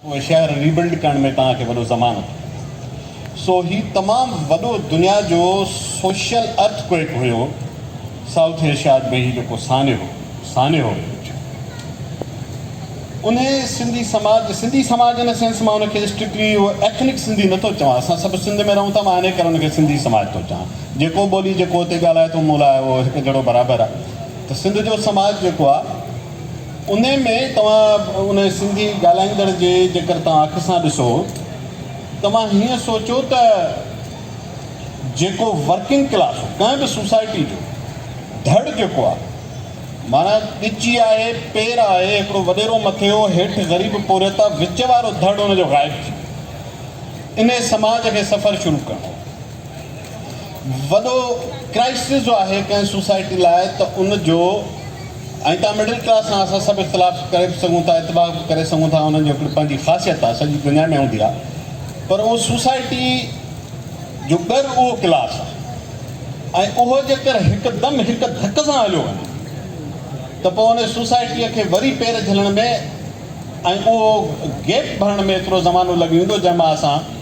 اهي شهر rebuild ڪرڻ ۾ توهان کي وڏو زمان لڳي ويندو. سو هي تمام وڏو دنيا جو سوشل ارٿ ڪوئڪ هيو سائوٿ ايشياد ۾ هي جيڪو سانحو سانحو هيو اچيو انهي سنڌي سماج سنڌي سماج ان سينس مان ان کي اسٽرڪلي اهو ايٿنڪ سنڌي نه ٿو چوان اسان سڀ سنڌ ۾ رهون ٿا مان انهي ڪري ان کي سنڌي سماج ٿو چوان جيڪو ٻولي جيڪو اتي ڳالهائي ٿو مون لاء اهو هڪ جهڙو برابر آهي ته سنڌ جو سماج جيڪو آهي انهيء ۾ توهان ان سنڌي ڳالهائيندڙ جي جيڪر توهان اک سان ڏسو، توهان هيئن سوچو ته جيڪو ورڪنگ ڪلاس، ڪنهن به سوسائٽي جو ڌڙ جيڪو آهي، معنيٰ ڳچي آهي، پير آهي، هڪڙو وڏيرو مٿيو، هيٺ غريب پورهيت آهي، وچ وارو ڌڙ ان جو غائب ٿي ويو. انهيء سماج کي سفر شروع ڪرڻو هو. وڏو ڪرائسز جو آهي ڪنهن سوسائٽي لاء ته ان جو ۽ تان مڊل ڪلاس سان اسان سڀ اختلاف ڪري به سگهون ٿا اتفاق به ڪري سگهون ٿا انهن جو هڪڙي پنهنجي خاصيت آهي سڄي دنيا ۾ هوندي آهي پر ان سوسائٽي جو ڳر اهو ڪلاس آهي ۽ اهو جيڪر هڪدم هڪ ڌڪ سان هليو وڃي ته پوء ان سوسائٽيء کي وري پير جهلڻ ۾ ۽ اهو گيپ ڀرڻ ۾ ايترو زمانو لڳي ويندو جنهن مان اسان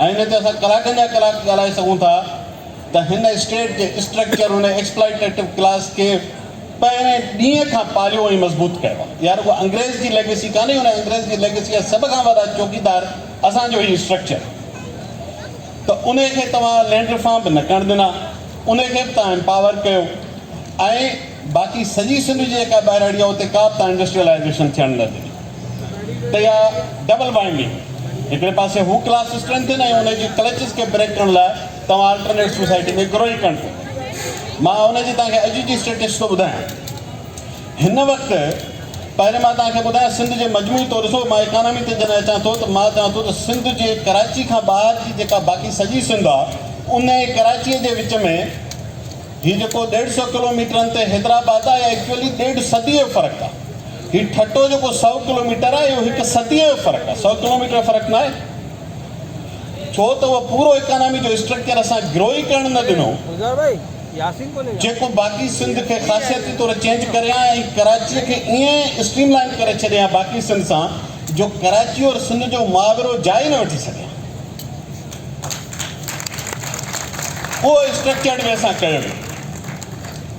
ائين نه ته اسان ڪلاڪن جا ڪلاڪ ڳالهائي سگهون ٿا ته هن اسٽيٽ جي اسٽرڪچر هن ايڪسپلائيٽيٽو ڪلاس کي پهرين ڏينهن کان پاليو ۽ مضبوط ڪيو آهي. اها رڳو انگريز جي ليگسي ڪانهي، ان انگريز جي ليگسي جا سڀ کان وڏا چوڪيدار اسان جو هي اسٽرڪچر ته ان کي توهان لينڊ ريفارم به نه ڪرڻ ڏنا، ان کي به توهان امپاور ڪيو ۽ باقي سڄي سنڌ جي جيڪا ٻهراڙي آهي اتي ڪا به توهان انڊسٽريلائيزيشن ٿيڻ نه ڏني. ته يا ڊبل بائنڊنگ هڪڙي پاسي هو ڪلاس اسٽرينٿ ۽ ان جي ڪلچز کي بريڪ ڪرڻ لاء توهان الٽرنيٽ سوسائٽي کي گروئي ڪرڻ ٿو پئي مان ان جي توهان کي اڄ جي اسٽيٽس ٿو ٻڌايان هن وقت پهرين مان توهان کي ٻڌايان سنڌ جي مجموعي طور ڏسو مان اڪانامي تي جڏهن اچان ٿو ته مان چوان ٿو ته سنڌ جي ڪراچي کان ٻاهر جي جيڪا باقي سڄي سنڌ آ ان ۽ ڪراچي جي وچ ۾ هي جيڪو ڏيڍ سئو ڪلو ميٽرن تي حيدرآباد آ اهي ايڪچوئلي ڏيڍ صدي جو فرق آ هي ٺٽو جيڪو سؤ ڪلوميٽر آهي اهو هڪ صديء جو فرق آهي سؤ ڪلوميٽر جو فرق ناهي ڇو ته اهو پورو اڪانامي جو اسٽرڪچر اسان گرو ئي ڪرڻ نه ڏنو جيڪو باقي سنڌ کي خاصيتي طور چينج ڪري ها ۽ ڪراچيء کي ائين اسٽريم لائن ڪري ڇڏي ها باقي سنڌ سان جو ڪراچي اور سنڌ جو محاورو جاء ئي نه وٺي سگهي ها اهو اسٽرڪچرڊ وي سان ڪيو ويو.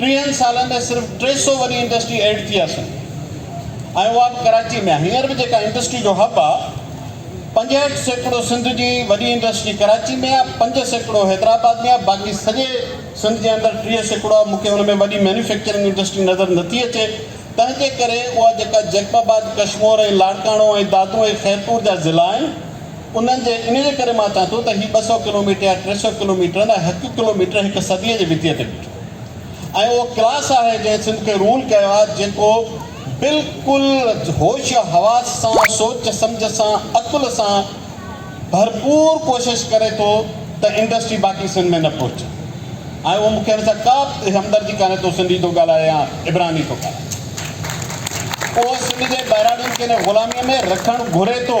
ٽيهن سالن ۾ صرف ٽي سؤ وڏي انڊسٽري ايڊ ٿي آسن ۽ اها به ڪراچي ۾ هينئر به جيڪا انڊسٽري جو هب آ پنجهٺ سيڪڙو سنڌ جي وڏي انڊسٽري ڪراچي ۾ آ پنج سيڪڙو حيدرآباد ۾ آ باقي سڄي سنڌ جي اندر ٽيهه سيڪڙو آ مونکي ان ۾ وڏي مينوفيڪچرنگ انڊسٽري نظر نٿي اچي تنهنجي ڪري اها جيڪا جيڪب آباد ڪشمور ۽ لاڙڪاڻو ۽ دادو ۽ خيرپور جا ضلع آهن انهن جي انهيء ڪري مان چان ٿو ته هي ٻه سؤ ڪلوميٽر يا ٽي سؤ ڪلوميٽر نه هڪ ڪلوميٽر هڪ صديء جي وتيء تي ۽ اهو ڪلاس آهي جنهن سنڌ کي رول ڪيو آهي جيڪو بلڪل هوش حواس سان سوچ سمجهه سان عقل سان ڀرپور ڪوشش ڪري ٿو ته انڊسٽري باقي سنڌ ۾ نه پهچي ۽ اهو مون کي هن سان ڪا به همدردي ڪانهي تو سنڌي ٿو ڳالهائي يا عبراني ٿو ڳالهائي اهو سنڌ جي ٻهراڙين کي ان غلامي ۾ رکڻ گهري ٿو.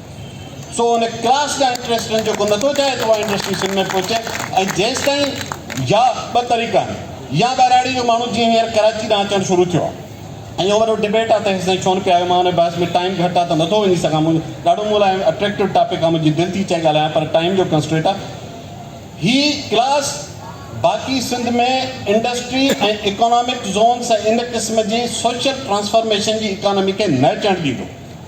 سو ان ڪلاس جا انٽرسٽ رن جو ڪو نٿو چاهي ته اها انڊسٽري سنڌ ۾ پهچي ۽ جيستائين يا ٻه طريقا آهن يا ٻهراڙي جو ماڻهو جيئن هينئر ڪراچي ڏانهن اچڻ شروع ٿيو آهي ۽ اهو وڏو ڊبيٽ آهي ته هيسين ڇو نه پيا آيو مان ان بحث ۾ ٽائيم گهٽ آهي ته نٿو وڃي سگهان مون ڏاڍو مون لاء اٽريڪٽو ٽاپڪ آهي منهنجي دل ٿي چاهي ڳالهايان پر ٽائيم جو ڪنسٽريٽ آهي هي ڪلاس باقي سنڌ ۾ انڊسٽري ۽ اڪانامڪ زونس ۽ ان قسم جي سوشل ٽرانسفارميشن جي اڪانامي کي نه اچڻ ڏيندو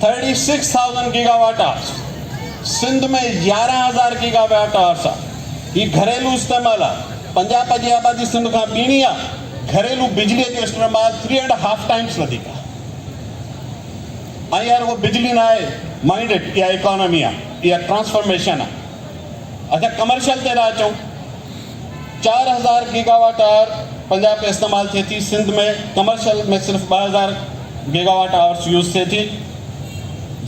thirty six thousand gigawatt hours, Sindh ۾ يارهن هزار گيگا واٽ آورس آ، هي گهريلو استعمال آ، پنجاب جي آبادي سنڌ کان ٻيڻي آ، گهريلو بجلي جو استعمال ٿري اينڊ هاف ٽائمس وڌيڪ آ. ائين رڳو بجلي نه آهي مائنڊيڊ اها اڪانامي آ، اها ٽرانسفارميشن آ. اچا ڪمرشل تي ٿا اچون. چار هزار گيگا واٽ آور پنجاب ۾ استعمال ٿئي ٿي، سنڌ ۾ ڪمرشل ۾ صرف ٻه هزار گيگا واٽ آورس يوز ٿئي ٿي،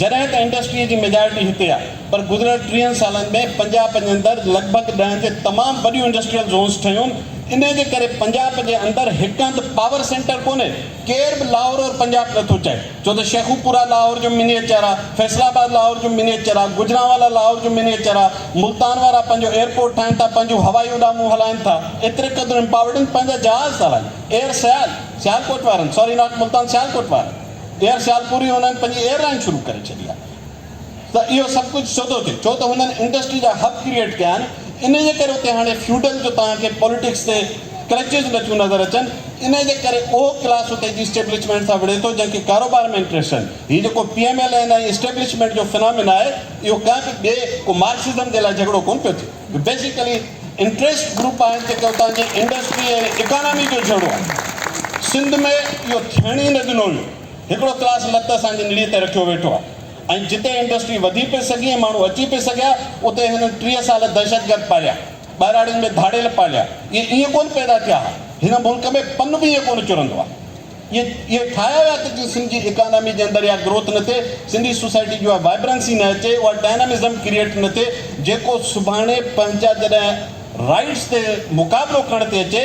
جڏهن ته انڊسٽريء جي ميجارٽي هتي آهي، پر گذريل ٽيهن سالن ۾ پنجاب جي اندر لڳ ڀڳ ڏهن جي تمام وڏيون انڊسٽريل زونز ٺهيون، انهيء جي ڪري پنجاب جي اندر هڪ هنڌ پاور سينٽر ڪونهي، ڪير به لاهور اور پنجاب نه ٿو چئي ڇو ته شيخوپورا لاهور جو منيئچر آ، فيصل آباد لاهور جو منيئچر آ، گجرانوالا لاهور جو منيئچر آ، ملتان وارا پنهنجو ايئرپورٽ ٺاهين ٿا، پنهنجون هوائي اڏامون هلائين ٿا، ايتري قدر امپاورڊ آهن پنهنجا جهاز ٿا هلائين، ايئر سيال، سيالڪوٽ وارن، ساري ناٽ ملتان سيالڪوٽ وارن، ايئر سيالپور ئي انهن پنهنجي ايئرلائين شروع ڪري ڇڏي آ. ته اهو سڀ ڪجهه سوڌو ٿئي ڇو ته هنن انڊسٽري جا هب ڪريئيٽ ڪيا آهن انهي جي ڪري اتي هاڻي فيوڊل جو توهان کي پوليٽڪس تي ڪرچز نه ٿيون نظر اچن انهي جي ڪري اهو ڪلاس اتي جي اسٽيبلشمينٽ سان وڙهي ٿو جنهن کي ڪاروبار ۾ انٽريسٽ آهن هي جيڪو P M L N ۽ establishment جو فنامنا آهي اهو ڪنهن به ٻئي ڪو مارڪسزم جي لاء جهڳڙو ڪونه پيو ٿئي اهي بيسيڪلي انٽريسٽ گروپ آهن جيڪي اتان جي انڊسٽري ۽ اڪانامي جو جهڳڙو آهن سنڌ ۾ اهو ٿيڻ ئي نه ڏنو ويو هڪڙو ڪلاس لت اسان جي نڙي تي رکيو ويٺو آهي. ۽ جتي انڊسٽري وڌي پئي سگهي ۽ ماڻهو اچي پئي سگهيا، اتي هنن ٽيهه سال دهشتگرد پاليا، ٻهراڙين ۾ ڌاڙيل پاليا. اهي ائين ڪونه پيدا ٿيا ها. هن ملڪ ۾ پن به ائين ڪونه چرندو آهي. اهي اهي ٺاهيا ويا ته جيئن سنڌ جي اڪانامي جي اندر اها گروٿ نه ٿئي، سنڌي سوسائٽي جي اها وائبرنسي نه اچي، اها ڊائنامزم ڪريئيٽ نه ٿئي، جيڪو سڀاڻي پنهنجا جڏهن رائيڊز تي مقابلو ڪرڻ تي اچي،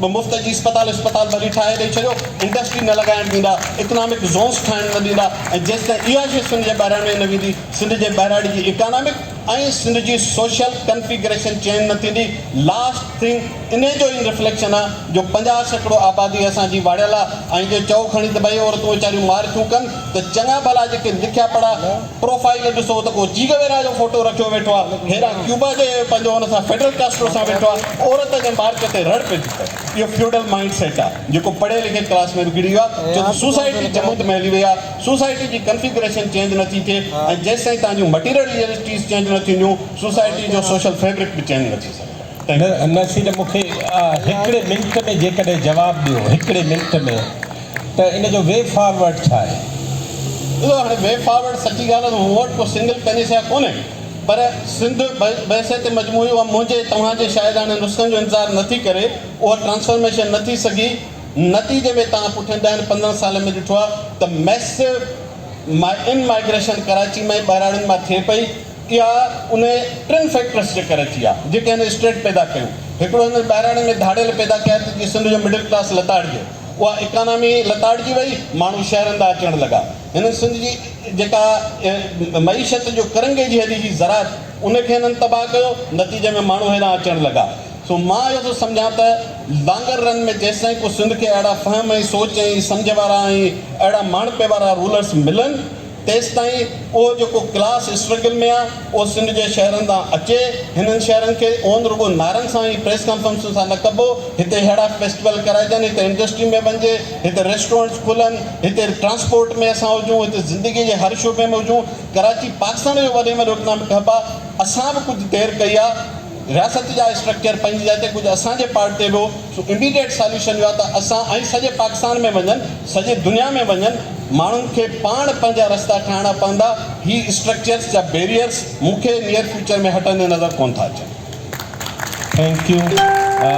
ٻه مفت جي اسپتال اسپتال ڀلي ٺاهي ڏئي ڇڏيو انڊسٽري نه لڳائڻ ڏيندا اڪنامڪ زونس ٺاهڻ نه ڏيندا ۽ جيستائين اها شيء سنڌ جي ٻهراڙي ۾ نه ويندي سنڌ جي ٻهراڙي جي اڪانامڪ ۽ سنڌ جي سوشل ڪنفيگريشن چينج نه ٿيندي لاسٽ ٿنگ انهي جو ئي رفليڪشن آ جو پنجاهه سيڪڙو آبادي اسان جي واڙيل آ ۽ جي چئو کڻي ته ٻئي عورتون ويچاريون مارٿيون ڪن ته چڱا ڀلا جيڪي لکيا پڙها پروفائيل ڏسو ته ڪو چيگويرا جو فوٽو رکيو ويٺو آ هيرا ڪيوبا جي پنهنجو ان سان فيڊل ڪاسٽرو سان ويٺو آ عورت جي مارڪ تي رڙ پئجي ته اهو فيوڊل مائنڊ سيٽ آ جيڪو پڙهي لکي ڪلاس ۾ به گري ويو آ ڇو ته سوسائٽي جمود ۾ هلي وئي آ سوسائٽي جي ڪنفيگريشن چينج نه ٿي ٿئي ۽ جيستائين تهان جون مٽيريل ريئلٽيز چينج نه ٿينديون سوسائٽي جو سوشل فيبرڪ به چينج نه ٿي سگهندو. نصير مون کي هڪڙي منٽ ۾ جيڪڏهن جواب ڏيو هڪڙي منٽ ۾ ته ان جو وي فارورڊ ڇا آهي؟ ڏسو هاڻي وي فارورڊ سچي ڳالهه ته مون وٽ ڪو سنگل پئنيسيا ڪونهي پر سنڌ بحثيت مجموعي اها منهنجي توهان جي شاعراڻي نسخن جو انتظار نه ٿي ڪري اها ٽرانسفارميشن نه ٿي سگهي نتيجي ۾ توهان پٺين ڏهن پندرهن سالن ۾ ڏٺو آهي ته ميسو ان مائگريشن ڪراچي مان ٻهراڙين مان ٿئي پئي اها ان ٽن فيڪٽرس جي ڪري ٿي آهي جيڪي هن اسٽيٽ پيدا ڪيون هڪڙو هن ٻهراڙين ۾ ڌاڙيل پيدا ڪيا ته جيئن سنڌ جو مڊل ڪلاس لتاڙجي. اها اڪانامي لتاڙجي وئي، ماڻهو شهرن ڏانهن اچڻ لڳا. هنن سنڌ جي جيڪا معيشت جو ڪرنگهي جي هڏي هئي زراعت، ان کي هنن تباهه ڪيو، نتيجي ۾ ماڻهو هيڏانهن اچڻ لڳا. سو مان اهو ٿو سمجهان ته لانگر رن ۾ جيستائين ڪو سنڌ کي اهڙا فهم ۽ سوچ ۽ سمجهه وارا ۽ اهڙا ماڻهپي وارا رولرس ملن، تيستائين اهو جيڪو ڪلاس اسٽرگل ۾ آ، اهو سنڌ جي شهرن تان اچي. هنن شهرن کي اونڌ رڳو نعرن سان ۽ پريس ڪانفرنسن سان نه ڪبو. هتي ههڙا فيسٽيول ڪرائجن، هتي انڊسٽري ۾ وڃجي، هتي ريسٽورنٽس کلن، هتي ٽرانسپورٽ ۾ اسان هجون، هتي زندگيء جي هر شعبي ۾ هجون. ڪراچي پاڪستان جو وڏي ۾ وڏو اڪنامڪ هب آ. اسان به ڪجهه دير ڪئي آ. رياست جا اسٽرڪچر پنهنجي جاء تي ڪجهه اسان جي پارٽ تي به هو. سو اميڊيٽ ساليوشن اهو آهي ته اسان ۽ سڄي پاڪستان ۾ وڃن سڄي دنيا ۾ وڃن ماڻهن کي پاڻ پنهنجا رستا ٺاهڻا پوندا هي اسٽرڪچرس جا بيريئرس مون کي نيئر فيوچر ۾ هٽندي نظر ڪونه ٿا اچن. Thank U.